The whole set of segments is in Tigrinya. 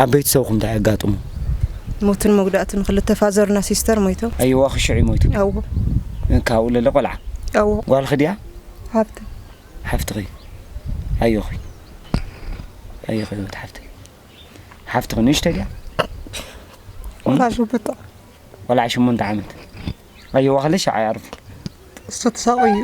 ኣብ ቤተሰብኩም ታይ ኣጋጥሙ? ሞትን መጉዳእትን ክልተ ፋዘርና ሲስተር ሞይቶም። ኣየዋኺ ሽዑ እዩ ሞይቱ? ኣዎ። ካብኡ ለለ ቆልዓ? ኣዎ። ጓልኺ ድያ? ሓብቲ። ሓፍትኺ ኣዮኺ ኣዮኺ ህይወት ሓፍተይ ሓፍትኺ ንእሽተይ ድያ? ቆልዓ ሸሞንተ ዓመት። ቆልዓ ሸሞንተ ዓመት ኣየዋኺ ለሽ ሸዓ ይኣርፉ እሱ ተሳቐዩ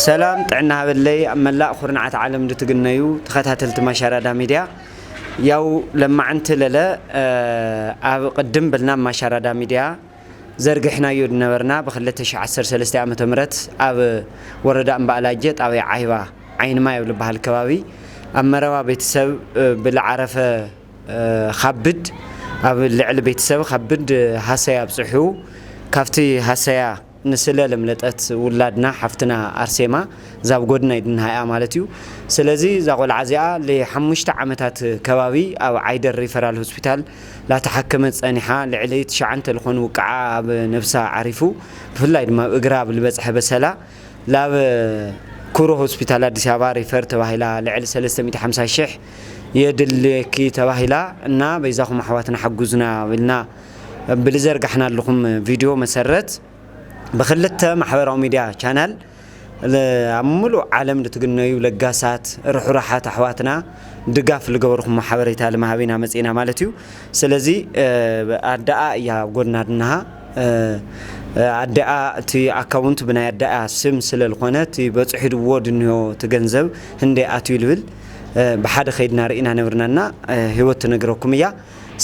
ሰላም ጥዕና ሃበለይ ኣብ መላእ ኩርናዓት ዓለም ዝትግነዩ ተኸታተልቲ ማሻራዳ ሚድያ ያው ለማዕንቲ ለለ ኣብ ቅድም ብልና ማሻራዳ ሚድያ ዘርጊሕናዮ ዝነበርና ብ ክልተ ሽሕ ዓሰርተ ሰለስተ ዓመተ ምህረት ኣብ ወረዳ እምባእላጀ ጣብያ ዓይባ ዓይኒ ማይ ኣብ ልባሃል ከባቢ ኣብ መረባ ቤተሰብ ብልዓረፈ ኻብድ ኣብ ልዕሊ ቤተሰብ ኻብድ ሃሰያ ኣብፅሑ ካፍቲ ሃሰያ ንስለ ለምለጠት ውላድና ሓፍትና ኣርሴማ ዛብ ጎድና ይድንሃያ ማለት እዩ ስለዚ ዛቆልዓ እዚኣ ልሓሙሽተ ዓመታት ከባቢ ኣብ ዓይደር ሪፈራል ሆስፒታል ላተሓከመት ጸኒሓ ልዕሊ ትሽዓንተ ልኾኑ ውቃዓ ኣብ ነብሳ ዓሪፉ ብፍላይ ድማ ኣብ እግራ ኣብ ልበጽሐ በሰላ ላብ ኩሩ ሆስፒታል ኣዲስ ኣበባ ሪፈር ተባሂላ ልዕሊ ሰለስተ ሚእቲ ሓምሳ ሽሕ የድልየኪ ተባሂላ እና በይዛኹም ኣሕዋትና ሓጉዙና ኢልና ብልዘርጋሕናልኹም ቪድዮ መሰረት ብክልተ ማሕበራዊ ሚድያ ቻናል ኣብ ምሉእ ዓለም ልትግነዩ ለጋሳት ርሕሩሓት ኣሕዋትና ድጋፍ ልገበርኩሞ ሓበሬታ ልምሃብ ኢና መጺእና ማለት እዩ። ስለዚ ኣደኣ እያ ኣብ ጎድና ድናሃ ኣደኣ እቲ ኣካውንት ብናይ ኣደኣ ስም ስለ ልኾነ እቲ በጽሒድዎ ድንሆ እቲ ገንዘብ ህንደይ ኣትዩ ልብል ብሓደ ከይድና ርኢና ነብርና እና ህይወት ትነግረኩም እያ።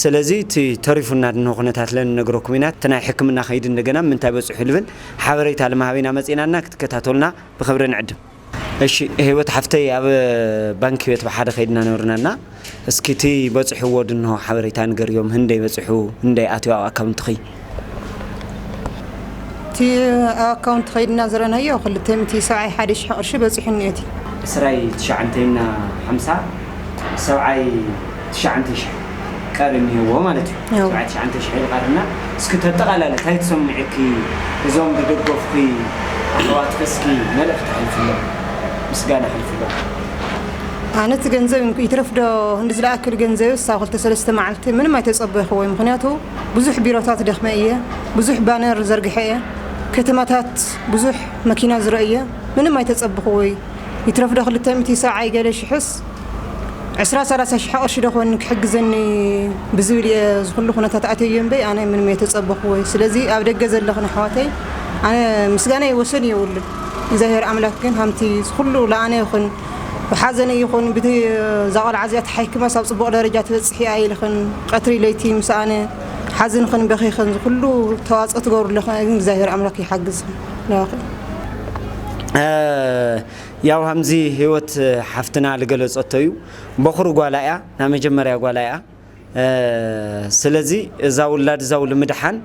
ሰለዚ እቲ ተሪፉና ድንሆ ኩነታት ለንነግረኩም ኢና እቲ ናይ ሕክምና ከይዲ እንደገና ምንታይ በፅሑ ልብል ሓበሬታ ልማሃብ ኢና መፂእና እና ክትከታተሉና ብክብሪ ንዕድም። እሺ ሂወት ሓፍተይ ኣብ ባንኪ ቤት ብሓደ ከይድና ነብርና እና እስኪ እቲ በፅሕዎ ድንሆ ሓበሬታ ንገርዮም ህንደይ በፅሑ ህንደይ ኣትዩ ኣብ ኣካውንትኪ። እቲ ኣካውንት ከይድና ዝረናዮ ክልተ ሚእቲ ሰብዓይ ሓደ ሽሕ ቅርሺ በፂሑ እኒኦ እቲ። ዕስራይ ትሽዓንተይ እና ሓምሳ ሰብዓይ ትሽዓንተይ ሽሕ ቀሪ እኒሀዎ ማለት እዩ ያው። ሰብዓይ ትሽዓንተይ ሽሕ ይቐርና እስኪ ተጠቓላሊ ታይ ትሰምዕኪ እዞም ዝደገፍኺ ኣሕዋትኺ እስኪ መልእኽቲ ኣሕልፍሎም ምስጋና ኣሕልፍሎም ኣነ እቲ ገንዘብ ይትረፍ ዶ ክንዲ ዝለኣክል ገንዘብስ ኣብ ክልተ ሰለስተ መዓልቲ ምንም ኣይተፀበይኹዎይ ምኽንያቱ ብዙሕ ቢሮታት ደኽመ እየ ብዙሕ ባነር ዘርግሐ እየ ከተማታት ብዙሕ መኪና ዝረ እየ ምንም ኣይተፀብኹ ወይ ይትረፍ ዶ ክልተ ሚእቲ ሰብዓይ ገለ ሽሕስ ዕስራ ሰላሳ ሽሕ ቅርሺ ዶ ኮን ክሕግዘኒ ብዝብል እየ ዝኩሉ ኩነታት ኣተዮ እምበይ ኣነ ምንም ኣይተፀበኹ ወይ ስለዚ ኣብ ደገ ዘለኽን ኣሕዋተይ ኣነ ምስጋናይ ወሰን የብሉን እግዚኣብሔር ኣምላክ ግን ሃምቲ ዝኩሉ ለኣነ ይኹን ብሓዘን እይኹን ብቲ እዛ ቆልዓ እዚኣ ተሓኪማስ ኣብ ጽቡቕ ደረጃ ትበጽሕ እያ ኢልኽን ቀትሪ ለይቲ ምስ ኣነ ሓዚንኽን በኺኽን ዝኹሉ ተዋጽኦ ትገብሩ ኣለኽን እግዛብሄር ኣምላክ ይሓግዝኽን ናባኽን ያው ሃምዚ ህይወት ሓፍትና ልገለጸቶ እዩ ቦኽሪ ጓላ እያ ናይ መጀመርያ ጓላ እያ ስለዚ እዛ ውላድ እዛው ልምድሓን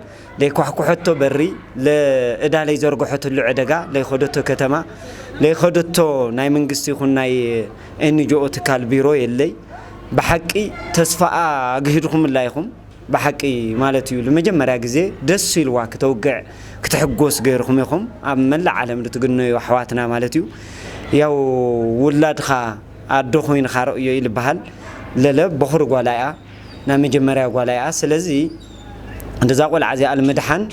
ለይኳሕኩሐቶ በሪ ለእዳ ለይዘርግሐትሉ ዕደጋ ለይኸደቶ ከተማ ለይኸደቶ ናይ መንግስቲ ይኹን ናይ ኤንጅኦ ትካል ቢሮ የለይ ብሓቂ ተስፋኣ ኣግሂድኹምላ ኢኹም ብሓቂ ማለት እዩ ንመጀመርያ ግዜ ደስ ኢልዋ ክተውግዕ ክትሕጎስ ገይርኹም ኢኹም ኣብ መላእ ዓለም ልትግነዩ ኣሕዋትና ማለት እዩ ያው ውላድኻ ኣዶ ኮይንኻ ረእዮ እዩ ልበሃል ለለ ቦኽሪ ጓላ እያ ናይ መጀመርያ ጓላ እያ ስለዚ እዛ ቆልዓ እዚኣ ልምድሓን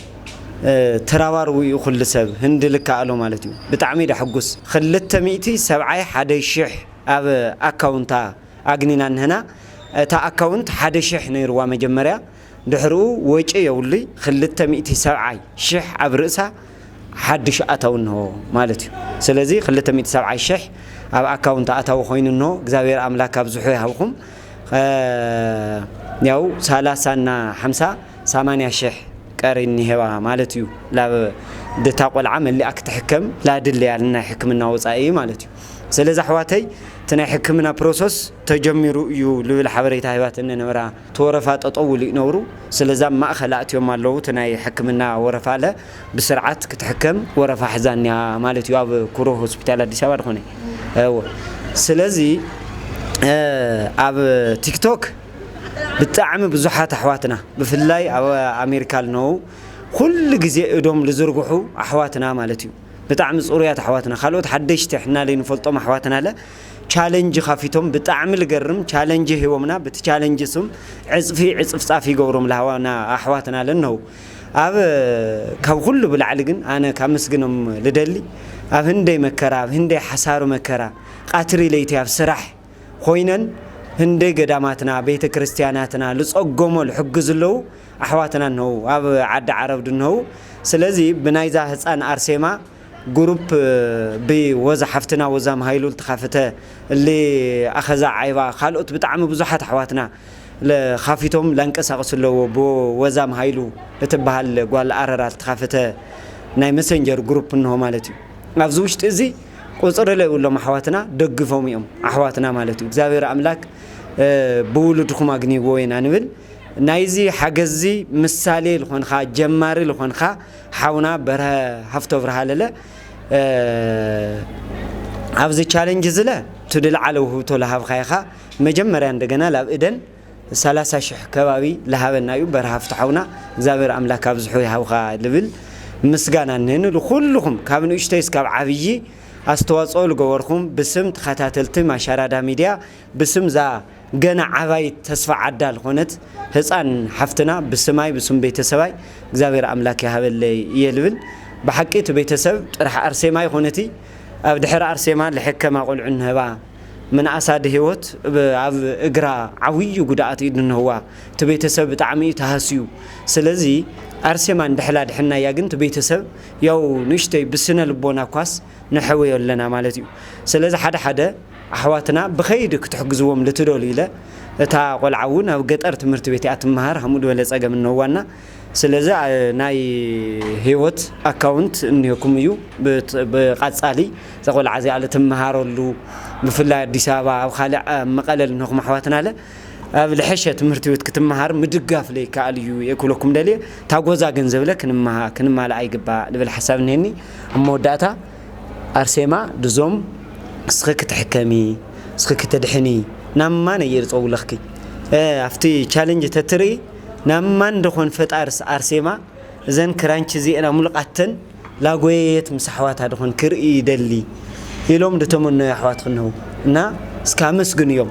ትራባርቡ እዩ ኩሉ ሰብ ህንዲ ልከኣሎ ማለት እዩ ብጣዕሚ እዳ ሕጉስ ክልተ ሚእቲ ሰብዓይ ሓደ ሽሕ ኣብ ኣካውንታ ኣግኒና እንሀና እታ ኣካውንት ሓደ ሽሕ ነይርዋ መጀመርያ ድሕርኡ ወጪ የብሉይ ክልተ ሚእቲ ሰብዓይ ሽሕ ኣብ ርእሳ ሓዱሽ ኣታዊ እንሆ ማለት እዩ ስለዚ ክልተ ሚእቲ ሰብዓይ ሽሕ ኣብ ኣካውንት ኣታዊ ኮይኑ እንሆ እግዚኣብሔር ኣምላክ ኣብዝሑ ይሃብኩም ያው ሰላሳ እና ሓምሳ ሰማንያ ሽሕ ቀሪ እኒሄዋ ማለት እዩ ላብ ድታ ቆልዓ መሊኣ ክትሕከም ላድለያ ናይ ሕክምና ወፃኢ ማለት እዩ ስለዚ ኣሕዋተይ እቲ ናይ ሕክምና ፕሮሰስ ተጀሚሩ እዩ ልብል ሓበሬታ ሂባትኒ ነበራ እቲ ወረፋ ጠጠው ኢሉ ነሩ ስለዚ ኣብ ማእኸል ኣእትዮም ኣለው እቲ ናይ ሕክምና ወረፋለ ብስርዓት ክትሕከም ወረፋ ሕዛ እኒኣ ማለት እዩ ኣብ ኩሩ ሆስፒታል ኣዲስ ኣበባ ድኾነ እወ ስለዚ ኣብ ቲክቶክ ብጣዕሚ ብዙሓት ኣሕዋትና ብፍላይ ኣብ ኣሜሪካ ልነው ኩሉ ግዜ እዶም ልዝርግሑ ኣሕዋትና ማለት እዩ ብጣዕሚ ፅሩያት ኣሕዋትና ካልኦት ሓደሽቲ ሕና ለይንፈልጦም ኣሕዋትናለ ቻለንጅ ካፊቶም ብጣዕሚ ልገርም ቻለንጅ ሂቦምና ብቲ ቻለንጅ ስም ዕጽፊ ዕጽፍጻፍ ይገብሮም ልሃዋና ኣሕዋትና ለነው ኣብ ካብ ኩሉ ብላዕሊ ግን ኣነ ካመስግኖም ልደሊ ኣብ ህንደይ መከራ ኣብ ህንደይ ሓሳሪ መከራ ቃትሪ ለይቲ ኣብ ስራሕ ኾይነን ህንደይ ገዳማትና ቤተ ክርስትያናትና ልጸጎሞ ልሕግዙ ለው ኣሕዋትና እንሀው ኣብ ዓዲ ዓረብ ድንሀው ስለዚ ብናይዛ ህጻን ኣርሴማ ግሩፕ ብ ወዛ ሓፍትና ወዛም ሃይሉ ልትካፍተ እሊ ኣኸዛ ዓይባ ካልኦት ብጣዕሚ ብዙሓት ኣሕዋትና ልካፊቶም ላንቀሳቅሱ ኣለዎ ብ ወዛም ሃይሉ ልትበሃል ጓል ኣረራ ልትካፍተ ናይ መሰንጀር ግሩፕ እንሆ ማለት እዩ ኣብዚ ውሽጢ እዚ ቁፅሪ ለይብሎም ኣሕዋትና ደግፎም እዮም ኣሕዋትና ማለት እዩ እግዚኣብሔር ኣምላክ ብውሉድኩም ኣግንይዎ ኢና ንብል ናይዚ ሓገዝ እዚ ምሳሌ ልኾንኻ ጀማሪ ልኾንኻ ሓውና በርሀ ሃፍቶብርሃ ኣለለ ኣብዚ ቻለንጅ ዝለ ትድልዓለ ውህብቶ ለሃብኻ ኢኻ መጀመርያ እንደገና ላብ እደን ሰላሳ ሽሕ ከባቢ ለሃበና እዩ በርሀ ሃፍቶ ሓውና እግዚኣብሔር ኣምላክ ኣብዝሑ ይሃብኻ ልብል ምስጋና እነኒ ልኩልኹም ካብ ንእሽተይ እስካብ ዓብዪ ኣስተዋፅኦ ልገበርኹም ብስም ተኸታተልቲ ማሻራዳ ሚድያ ብስም እዛ ገና ዓባይት ተስፋ ዓዳ ልኾነት ህጻን ሓፍትና ብስማይ ብስም ቤተሰባይ እግዚኣብሔር ኣምላክ ይሃበለይ እየ ልብል ብሓቂ እቲ ቤተሰብ ጥራሕ ኣርሴማ ኣይኾነቲ ኣብ ድሕሪ ኣርሴማ ልሕከማ ቆልዑ እንሀባ ምንኣሳ ድህይወት ኣብ እግራ ዓውዪ ጉድኣት እዩ ድንህዋ እቲ ቤተሰብ ብጣዕሚ እዩ ተሃስዩ ስለዚ ኣርሴማ እንድሕል ኣድሕናያ ግን እቲ ቤተሰብ ያው ንእሽተይ ብስነ ልቦና እኳስ ንሐውዮ ኣለና ማለት እዩ ስለዚ ሓደ ሓደ ኣሕዋትና ብኸይዲ ክትሕግዝዎም ልትደልዩ ኢለ እታ ቆልዓ እውን ኣብ ገጠር ትምህርቲ ቤት እያ ትመሃር ሃምኡ ድበለ ፀገም እነዋና ስለዚ ናይ ህይወት ኣካውንት እኒሀኩም እዩ ብቃፃሊ እዛ ቆልዓ እዚኣ ልትመሃረሉ ብፍላይ ኣዲስ ኣበባ ኣብ ኻሊእ ኣብ መቐለ ልንኩም ኣሕዋትና ለ ኣብ ልሐሸ ትምህርቲ ቤት ክትመሃር ምድጋፍ ለይከኣል እዩ እየ ክብለኩም ደልየ ታጎዛ ገንዘብ ለ ክንማላኣ ይግባእ ልብል ሓሳብ እኒሀኒ ኣብ መወዳእታ ኣርሴማ ድዞም እስኺ ክትሕከሚ እስኺ ክትድሕኒ ናብ ማን እየ ድጸውለኽኪ እህ ኣብቲ ቻለንጅ ተትርኢ ናብ ማን ደኾን ፈጣርስ ኣርሴማ እዘን ክራንች እዚኤን ኣሙልቓተን ላጎየየት ምስ ኣሕዋታ ደኾን ክርኢ ይደሊ ኢሎም ድተመነዩ ኣሕዋትኺ እነሀው እና እስኪ ኣመስግንዮም።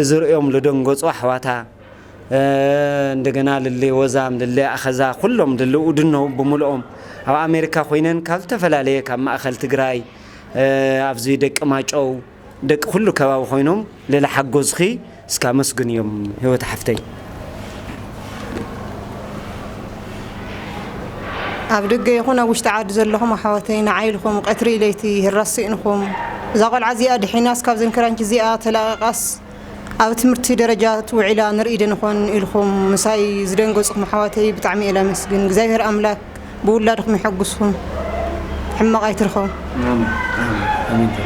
እዚ ርእዮም ልደንገጹ ኣሕዋታ እንደገና ልል ወዛም ልል ኣኸዛ ኩሎም ልል ኡድነው ብምልኦም ኣብ ኣሜሪካ ኮይነን ካብ ዝተፈላለየ ካብ ማእኸል ትግራይ ኣብዚ ደቂ ማጨው ደቂ ኩሉ ከባቢ ኮይኖም ልል ሓጎዝኺ እስካ ኣመስግንዮም ህይወት ሓፍተይ። ኣብ ደገ ይኹን ኣብ ውሽጢ ዓዲ ዘለኹም ኣሕዋተይ ንዓይ ኢልኹም ቀትሪ ለይቲ ህራስ ስኢንኩም እዛ ቆልዓ እዚኣ ድሒናስ ካብዘን ክራንች እዚኣ ተላቒቓስ ኣብ ትምህርቲ ደረጃ ትውዒላ ንርኢ ዶ ንኾን ኢልኹም ምሳይ ዝደንገጽኩም ኣሕዋተይ ብጣዕሚ እየ ላመስግን እግዚኣብሔር ኣምላክ ብውላድኩም ይሐጉስኩም ሕማቕ ኣይትርኸቡ